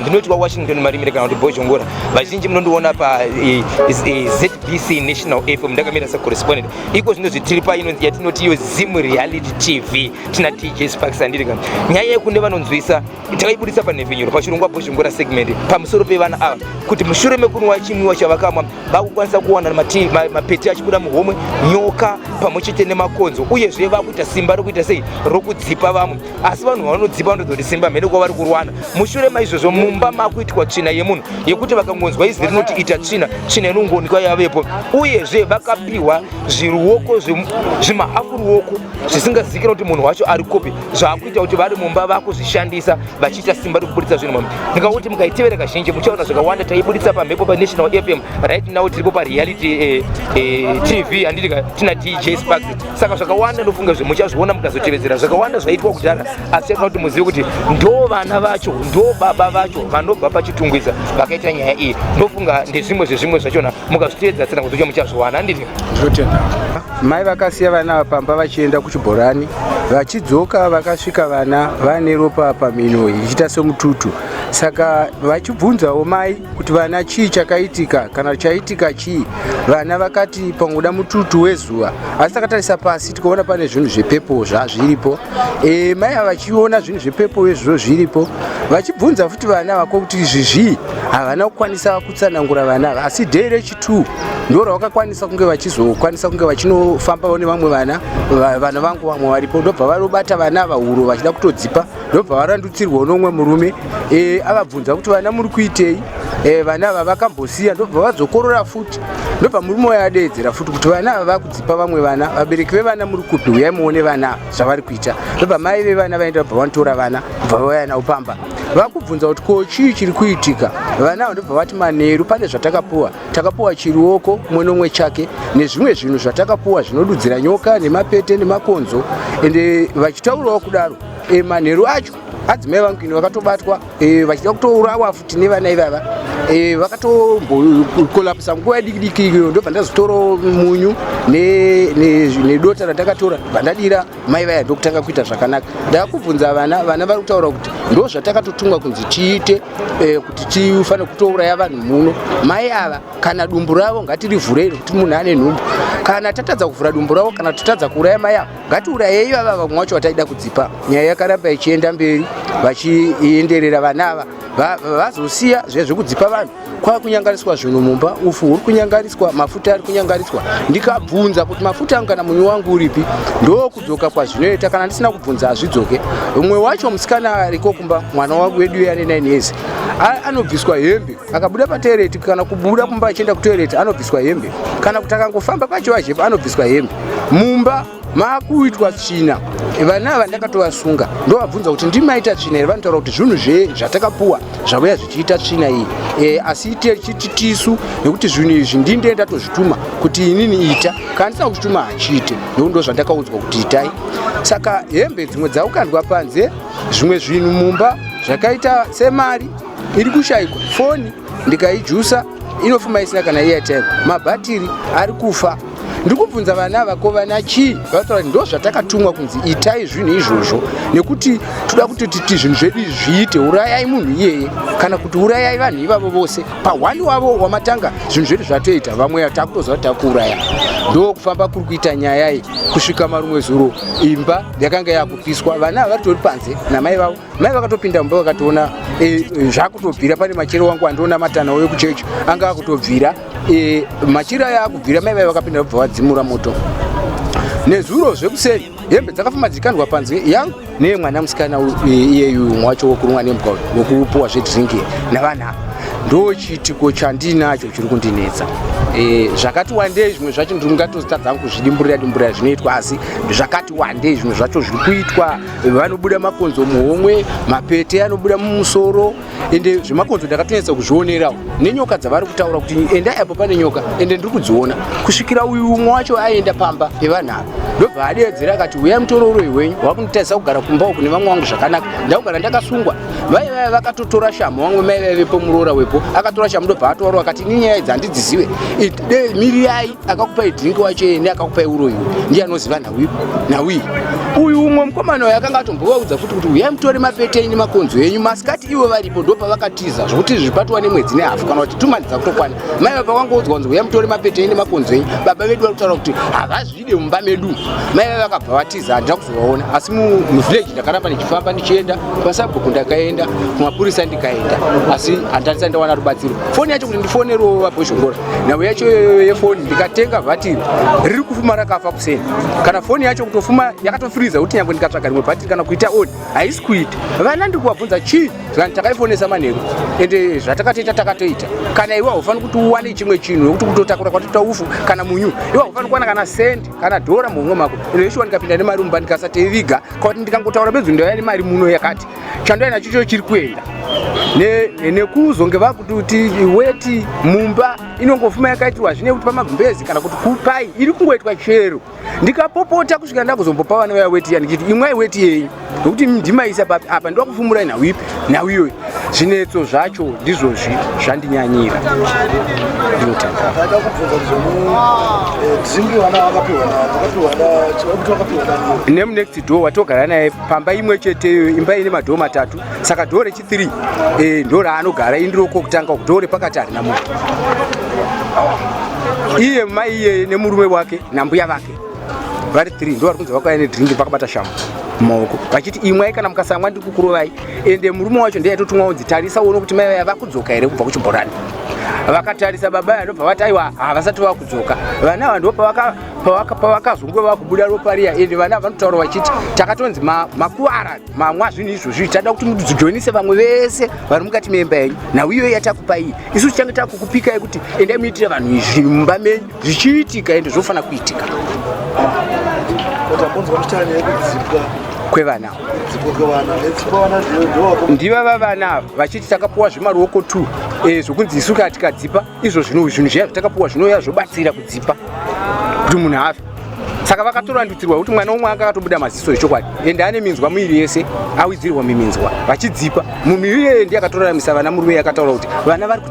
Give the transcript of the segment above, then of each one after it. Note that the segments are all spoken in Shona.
ndinoti wawashington marimire kana kuti bhozhongora vazhinji munondiona pazbc e, e, national fm ndakamira secorrespondent iko zvino zvitiri paino yatinoti iyo zim reality tv tina tj sparks andiri kana nyaya yekune vanonzwisa takaibudisa panhepfenyuro pachirongwa bhozhongora segment pamusoro pevana ava kuti mushure mekunwa chimwiwa chavakamwa vakukwanisa kuwana mapeti achibuda muhomwe nyoka pamwe chete nemakonzo uyezve vakuita simba rokuita sei rokudzipa vamwe asi vanhu vanodzipa ndozoti simba mhene kwavari kurwana mushure maizvozvo mumba makuitwa tsvina yemunhu yekuti vakangonzwa izwi rinoti ita tsvina tsvina inongoonekwa yavepo uyezve vakapiwa zviruoko zvimahafu ruoko zvisingazikira kuti munhu wacho ari kupi zvaakuita kuti vari mumba vakuzvishandisa vachiita simba rekuburitsa zvinhu mambi ndikauti mukaitevera kazhinji muchaona zvakawanda taibuditsa pamhepo panational fm right now tiripo pareality eh, eh, tv handiti tina dj sparks saka zvakawanda ndofunga zve muchazviona mukazotevedzera zvakawanda zvaitwa kudhara asi chatoda kuti muzive kuti ndo vana vacho ndo baba vacho vanobva pachitungwiza vakaita nyaya iyi ndofunga ndezvimwe zvezvimwe zvachona mukazvitevedza tsena kuzocha muchazviwana handiti zvotenda mai vakasiya vana vapamba vachienda kuchibhorani vachidzoka vakasvika vana vane ropa pamhino ichiita semututu saka vachibvunzawo mai kuti vana chii chakaitika kana chaitika chii vana vakati pangoda mututu wezuva asi takatarisa pasi tikaona pane zvinhu zvepepo zvazviripo e, mai ava vachiona zvinhu zvepepo vezviro zviripo vachibvunza futi vana vako kuti izvi zvii havana kukwanisa kutsanangura vana ava asi day rechitwo ndo ravakakwanisa kunge vachizokwanisa kunge vachinofambawo nevamwe vana vana vangu vamwe varipo ndobva varobata vana ava huro vachida kutodzipa ndobva varandutsirwa unomwe murume e, akabvunza kuti vana muri kuitei e, vana ava vakambosiya ndobva vazokorora futi ndobva murume waye adeedzera futi kuti vana ava vakudzipa vamwe vana vabereki vevana muri kupi huyai muone vana zvavari kuita ndobva mai vevana vaenda vabva vanotora vana bva vauya navo pamba vakubvunza kuti ko chii chiri kuitika vana ava ndobva vati manheru pane zvatakapuwa takapuwa chiruoko umwe nomwe chake nezvimwe zvinhu zvatakapuwa zvinodudzira nyoka nemapete nemakonzo ende vachitaurawo kudaro e, manheru acho adzimai vangu ini vakatobatwa e, vachida kutourawa futi nevana ivava e, vakatombokolapisa nguva yadikidiki iyo ndobva ndazotora munyu nedota ratakatora vandadira mai vaya ndokutanga kuita zvakanaka ndakubvunza vana vana vari kutaura kuti ndo zvatakatotumwa kunzi tiite e, kuti tifanire kutouraya vanhu muno mai ava kana dumbu ravo ngatirivhurei kuti munhu ane nhumbu kana tatadza kuvhura dumbu ravo kana tatadza kuuraya mai ava ngatiurayei vava vamwe wacho vataida kudzipa nyaya yakaramba ichienda mberi vachienderera vana ava vazosiya zviya zvekudzipa vanhu kwava kunyangariswa zvinhu mumba ufu huri kunyangariswa mafuta ari kunyangariswa ndikabvunza kuti mafuta angu kana munyu wangu uripi ndokudzoka kwazvinoita kana ndisina kubvunza hazvidzoke umwe wacho musikana ariko kumba mwana wangu wedu uye ane 9 years anobviswa hembe akabuda patoireti kana kubuda kumba achienda kutoireti anobviswa hembe kana kuti akangofamba kwachivajepa anobviswa hembe mumba maakuitwa tsvina vana ava ndakatovasunga ndovabvunza kuti ndimaita tsvina here vanotaura kuti zvinhu zve zvatakapuwa zvavuya zvichiita tsvina iyi e, asi tichiti tisu nekuti zvinhu izvi ndinde ndatozvituma kuti inini ita kana ndisina kuzvituma hachiite nekuti ndo zvandakaudzwa kuti itai saka hembe dzimwe dzaukandwa panze zvimwe zvinhu mumba zvakaita semari iri kushaikwa foni ndikaijusa inofuma isina kana airtime mabhatiri ari kufa ndiri kubvunza vana ava ko vana chii vataura ndo zvatakatumwa kunzi itai zvinhu izvozvo nekuti toda kuti titi zvinhu zvedu izvi zviite urayai munhu iyeye kana kuti urayai vanhu ivavo vose pahwani wavo wamatanga zvinhu zvedu zvatoita vamwe takutoziva kuti takuuraya ndo kufamba kuri kuita nyaya iyi kusvika marumwe zuro imba yakanga yakupiswa vana ava vari tori panze namai vavo mai vakatopinda mumba vakatoona e, zvakutobvira pane machero wangu andiona matana uyo kuchechi anga akutobvira e, machira aya akubvira mai vaya vakapinda vabva vadzimura moto nezuro zvekuseri hembe dzakafamba dzikandwa panze yangu neye mwana musikana e, iyeyu mumwe wacho wokurumwa nembwa wokupuwa zvedrinki navanhu ava ndo chiitiko chandinacho chiri kundinetsa e, zvakati wandei zvimwe zvacho ndiri ngatozitadzangu kuzvidimburira dimburira zvinoitwa asi zvakati wandei zvimwe zvacho zviri kuitwa vanobuda makonzo muhomwe mapete anobuda mumusoro ende zvemakonzo ndakatonetsa kuzvionerawo nenyoka dzavari kutaura kuti endai apo pane nyoka ende ndiri kudziona kusvikira uyu umwe wacho aenda pamba evanhu ava ndobva adeedzera akati uya mutorouroi wenyu wakunditarisa kugara kumba uku nevamwe vangu zvakanaka ndakugara ndakasungwa vaive vaive vakatotora shamhu vamwe mai vaivepo muroora wepo akatora shamhu ndobva atoaro akati ini nyaya idzi handidzizive miriyai akakupai drink wacho iye neakakupai uroyi ndiye anoziva nhawi nhawi uyu umwe mukomana uyo akanga atombovaudza futi kuti uyai mutore mapete enyu makonzo enyu masikati ivo varipo ndo pavakatiza zvokuti izvi zvipatiwa nemwedzi nehafo kana kuti tumani dzakutokwana mai vapa vangoudzwa kunzi uyai mutore mapete enyu nemakonzo enyu baba vedu vari kutaura kuti havazvide mumba medu mai vave vakabva vatiza handira waona asi muvillage ndakaramba ndichifamba ndichienda kwasabhuku ndakaenda kumapurisa ndikaenda asi handisati ndawana rubatsiro foni yacho kuti ndifonerewo vabhozhongora nhau yacho yefoni ndikatenga bhatiri riri kufuma rakafa kuseni kana foni yacho kutofuma yakatofiriza kuti nyangwe ndikatsvaga rimwe bhatiri kana kuita oni haisi kuita vana ndiri kuvabvunza chii zvikanzi takaifonesa manheru ende zvatakatoita takatoita kana iwe haufaniri kuti uwane chimwe chinhu nekuti kutotakura kwatoita ufu kana munyu iwe haufaniri kuwana kana sendi kana dhora muhomwe mako ino yeshuwa ndikapinda nemari mumba ndikasateiviga kwakuti ndikangotaura bedzi ndouya nemari muno yakati chandoya nacho cho chiri kuenda nekuzonge vakuti kuti weti mumba inongofuma yakaitirwa zvine kuti pamagumbezi kana kuti kupai iri kungoitwa chero ndikapopota kusvika ndakuzombopa vana vaya weti ya ndichiti imwai weti yenyu nokuti ndimaisa papi apa ndoda kufumurai nhau ipi nhau iyoyi zvinetso zvacho ndizvozvi zvandinyanyira nemunext door watogara naye pamba imwe cheteyo imba ine madhoo matatu saka dhoo rechithre eh, ndo raanogara indiroko kutanga kudhoo repakati harina munhu iye mai iyeye nemurume wake nambuya vake vari three ndo vari kunzi vakauya nedrink vakabata shamhu mumaoko vachiti imwai kana mukasamwa ndiri kukurovai ende murume wacho ndiye aitotumwa unzi tarisa uone kuti mai vaya vakudzoka here kubva kuchibhorani vakatarisa baba aya ndobva vati aiwa havasati vakudzoka vana ava ndo pavakazonge vakubuda ropa riya ende vana vanotaura vachiti takatonzi makuvara mamwa zvinhu izvozvi tada kuti mujoinise vamwe vese vari mukati meimba yenyu nhau iyoyi yatakupai isu tichange takukupikai kuti endai muitire vanhu izvi mumba menyu zvichiitika ende zvofanira kuitika kwevana ndivava vana ava vachiti takapuwa zvemaruoko t eh, zvokunzi isu kaa tikadzipa izvo zvinhu zviya zvatakapuwa zvinouya zvobatsira kudzipa kuti munhu afe saka vakatorandutsirwa kuti mwana umwe anga akatobuda maziso echokwadi ende ane minzwa miviri yese awidzirwa miminzwa vachidzipa munhu iyeye ndiye akatoraramisa vana murume yakataura kuti vana vari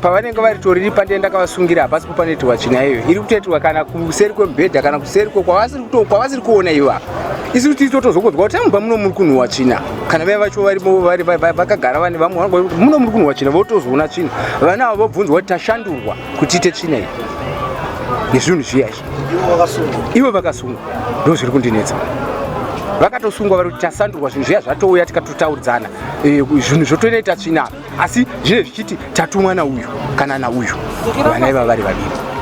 pavanenge vari toriri pandee ndakavasungira hapasi kupa netiwa tsvina iyoyo iri kutoitirwa kana kuseri kwemubhedha kana kuseri ko kwavasiri kuona iva isi kuti totozokonzwa kuti amubva muno muri kunhuwa tsvina kana vaya vacho vakagara vane vamwe vanoa kuti muno muri kunhuwa tsvina votozoona tsvina vana ava vobvunzwa kuti tashandurwa kuti ite tsvina iyi nezvinhu zviya izvi ivo vakasungwa ndo zviri kundinetsa vakatosungwa vari kuti tasandurwa zvinhu zviya zvatouya tikatotaudzana eh, zvinhu zvotonoita tsvina asi zvinenge zvichiti tatumwa nauyu kana nauyu vana iva vari vaviri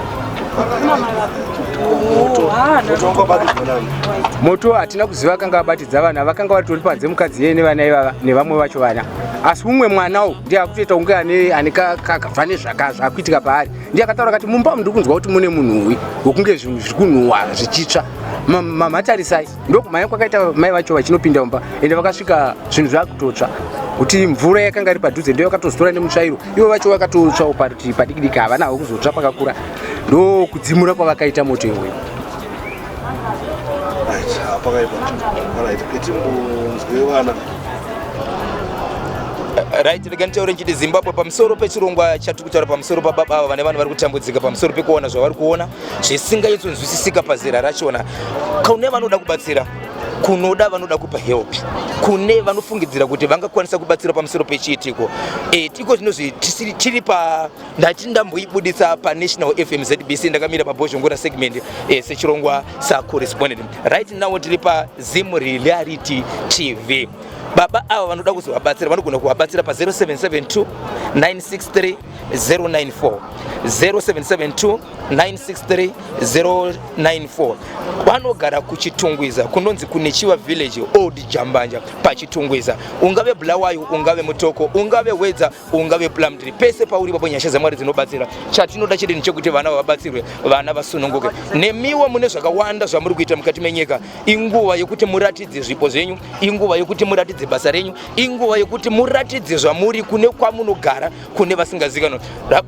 moto hatina kuziva vakanga vabatidza vana vakanga vatori panze mukadzi yeye nevana ivava nevamwe vacho vana asi umwe mwanawo ndiye akutoita kunge ane kakabva nezvaka zvakuitika paari ndiye akataura kati mumba mndiri kunzwa kuti mune munhuwi wokunge zvinhu zviri kunhuhwa zvichitsva mamatarisai ndokumhanya kwakaita mai vacho vachinopinda mumba ende vakasvika zvinhu zvakutotsva kuti mvura yakanga iri padhuze ndo yakatozotora nemutsvairo ivo vacho vakatotsvawo parutivi padiki diki havana havo kuzotsva pakakura ndokudzimura kwavakaita moto iwoyo right rega nditaure ndichiti zimbabwe pamusoro pechirongwa chatiri kutaura pamusoro pababa ava vane vanhu vari kutambudzika pamusoro pekuona zvavari kuona zvisingaitsonzwisisika pazera rachona kune vanoda kubatsira kunoda vanoda kupa help kune vanofungidzira kuti vangakwanisa kubatsira pamusoro pechiitiko e, tiko zvinozvi tiri pa ndati ndamboibuditsa panational fm zbc ndakamira pabhozhongora segment e, eh, sechirongwa sacorrespondent right now tiri pazim reality tv baba ava vanoda kuzovabatsira vanogona kuvabatsira pa 0772 963 094 0772 963 094 vanogara kuchitungwiza kunonzi kune chiva village old jambanja pachitungwiza ungave bulawayo ungave mutoko ungave wedza ungave plumtree pese pauri papo nyasha dzamwari dzinobatsira chatinoda chedeni chekuti vana vavabatsirwe vana vasununguke nemiwo mune zvakawanda zvamuri kuita mukati menyika inguva yekuti muratidze zvipo zvenyu inguva yekuti muratidze basa renyu inguva yekuti muratidze zvamuri kune kwamunogara kune vasingazikanwa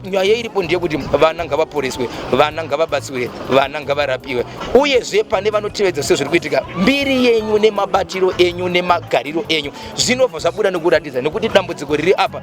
nyaya iripo ndeyekuti vana ngavaporeswe vana ngavabatsirwe vana ngavarapiwe uyezve pane vanotevedza sezviri kuitika mbiri yenyu nemabatiro enyu nemagariro enyu zvinobva zvabuda nekuratidza nekuti dambudziko riri apa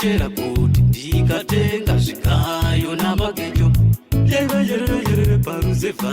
chera kuti ndikatenga zvigayo namagejo yereyereyereere paruzevha